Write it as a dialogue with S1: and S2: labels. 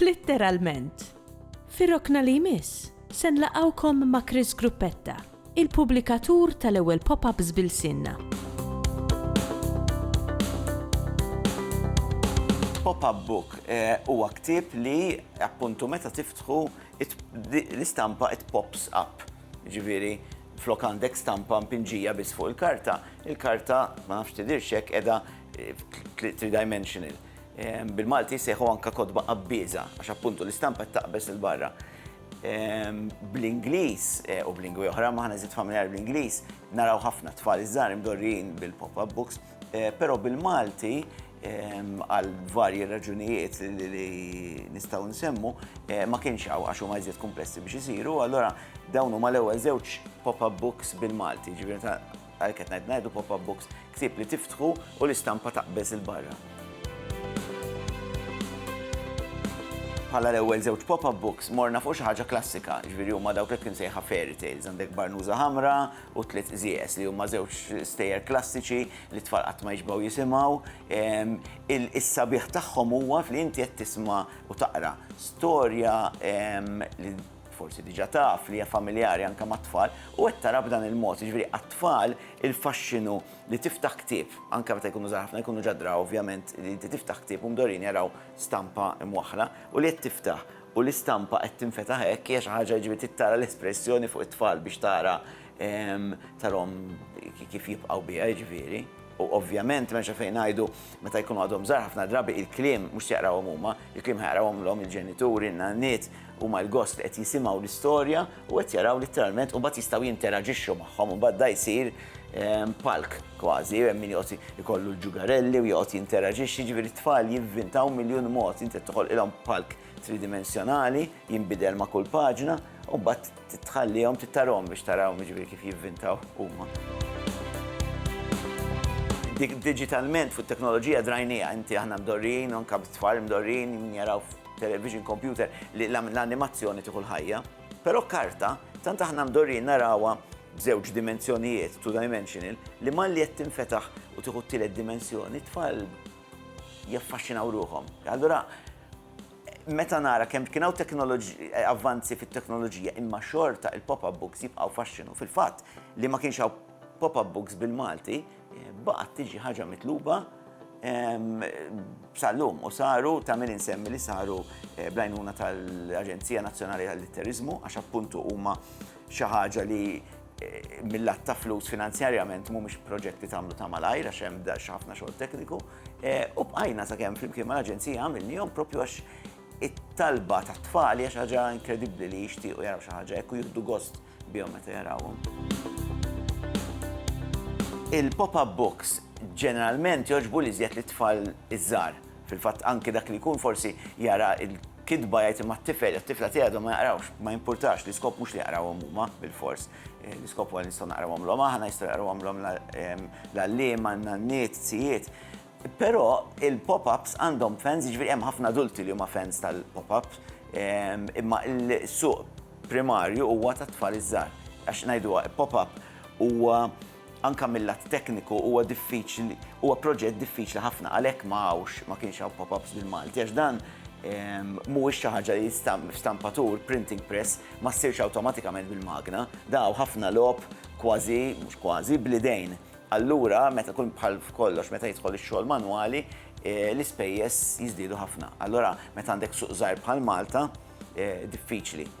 S1: Litteralment! Fir-rokna li jmiss, se nlaqgħukom ma' Chris Gruppetta, il-pubblikatur tal-ewwel pop-ups b'ilsienna.
S2: Pop-up book huwa ktieb li appuntu meta tiftħu l-istampa it pops up. Ġifieri, flok għandek stampa mpinġija biss fuq il-karta, il-karta ma nafx tidhirx hekk qiegħda three-dimensional. Bil-Malti jsejħu anke kotba qabbieża għax appuntu l-istampa qed taqbeż 'il barra. Bl-Ingliż u b'lingwi oħra, imma aħna żied familjari bl-Ingliż, naraw ħafna tfal iż-żgħar imdorrijin bil-pop-up books, però bil-Malti għal varji raġunijiet li nistgħu nsemmu ma kienx hawn għax huma iżjed kumplessi biex isiru, allura dawn huma l-ewwel żewġ pop-up books bil-Malti, jiġifieri ta'. Għalhekk qed ngħid ngħidu pop-up books, ktieb li tiftħu u l-istampa taqbeż 'il barra. Bħala l-ewwel żewġ pop-up books morna fuq xi ħaġa klassika, ġifieri huma dawk hekk imsejħa fairy tales, għandek Barnuża Ħamra u Tliet Qżieqes li huma żewġ stejjer klassiċi li t-tfal qatt ma jixbgħu jisimgħu. Ehm, Is-sabiħ tagħhom huwa li inti qed tisma' u taqra storja ehm, li forsi diġà taf li hija familjari anke mat-tfal, u qed tara b'dan il-mod, jiġifieri għat-tfal il-faxxinu li tiftaħ ktieb, anke meta jkunu żgħar ħafna, jkunu ġa draw ovvjament li inti tiftaħ ktieb u mdorrijin jaraw stampa mwaħħla u li qed tiftaħ u l-istampa qed tinfetaħ hekk hija xi ħaġa jiġifieri trid tara l-espressjoni fuq it-tfal biex tara tarahom kif jibqgħu biha jiġifieri. U ovvjament m'hemmx għalfejn ngħidu meta jkunu għadhom żgħar ħafna drabi il-kliem mhux se jaqrawhom huma, il-kliem ħa jaqrawhomlhom il-ġenituri, n-nanniet, huma l-gost li qed jisimgħu l-istorja u qed jaraw litteralment u mbagħad jistgħu jinteraġixxu magħhom u mbagħad da jsir palk kważi, hemm min joqgħod ikollu l-ġugarelli u joqgħod jinteraġixxi, jiġifieri t-tfal jivvintaw miljun mod, inti qed toħolqilhom palk tridimensjonali, jinbidel ma' kull paġna, u mbagħad tħallihom tittarhom biex tarahom jiġifieri kif jivvintaw huma. Dik diġitalment fuq it-teknoloġija drajnieha, inti aħna mdorrijin, anke t-tfal mdorrijin jaraw television, kompjuter li l-animazzjoni tieħu l-ħajja. Però karta, tant aħna mdorrijin narawha b'żewġ dimensjonijiet, two dimensional, li malli qed tinfetaħ u tieħu t-tielet dimensjoni, t-tfal jaffaxxinaw ruħhom. Allura, meta nara kemm kien hawn avvanzi fit-teknoloġija imma xorta il-pop-up books jibqgħu faxxinu fil-fatt li ma kienx hawn pop-up books bil-Malti baqgħet tiġi ħaġa mitluba sal-lum u saru ta' min insemmi li saru eh, blajnuna tal-Aġenzija Nazzjonali tal-Litterizmu għax appuntu huma xi ħaġa li eh, mill-att ta' flus finanzjarjament mhumiex proġetti tagħmlu ta' malajr għax hemm ħafna xogħol tekniku. U bqajna sakemm flimkien mal-Aġenzija għamilnihom propju għax it-talba tat-tfal hija xi ħaġa inkredibbli li jixtiequ jaraw xi ħaġa hekk u jieħdu gost bihom meta jarawhom. Il-pop-up books ġeneralment jogħġbu l-iżjed lit-tfal iż-żgħar. Fil-fatt anke dak li jkun forsi jara l-kitba jgħid imma t-tifel jew t-tifla tiegħi għadhom ma jaqrawx, ma jimpurtax, l-iskop mhux li jaqrawhom huma bilfors. L-iskop huwa nistgħu naqrawhomlhom aħna, jistgħu jaqrawhomlhom l-għalliema, n-nanniet, zijiet. Però il-pop-ups għandhom fans, jiġifieri hemm ħafna adulti li huma fans tal-pop-ups, imma l-suq primarju huwa tat-tfal iż-żgħar. Għax ngħiduha pop-up huwa Anke mil-lat tekniku huwa diffiċli, huwa proġett diffiċli ħafna, għalhekk ma hawnx, ma kienx hawn pop-ups bil-Malti għax dan mhuwiex xi ħaġa li f'stampatur, printing press, ma ssirx awtomatikament bil-magna. Dan hawn ħafna logħob kważi, mhux kważi, bl-idejn. Allura, meta jkun bħal f'kollox, meta jidħol ix-xogħol manwali, l-ispejjeż jiżdiedu ħafna. Allura, meta għandek suq żgħir bħal Malta, diffiċli.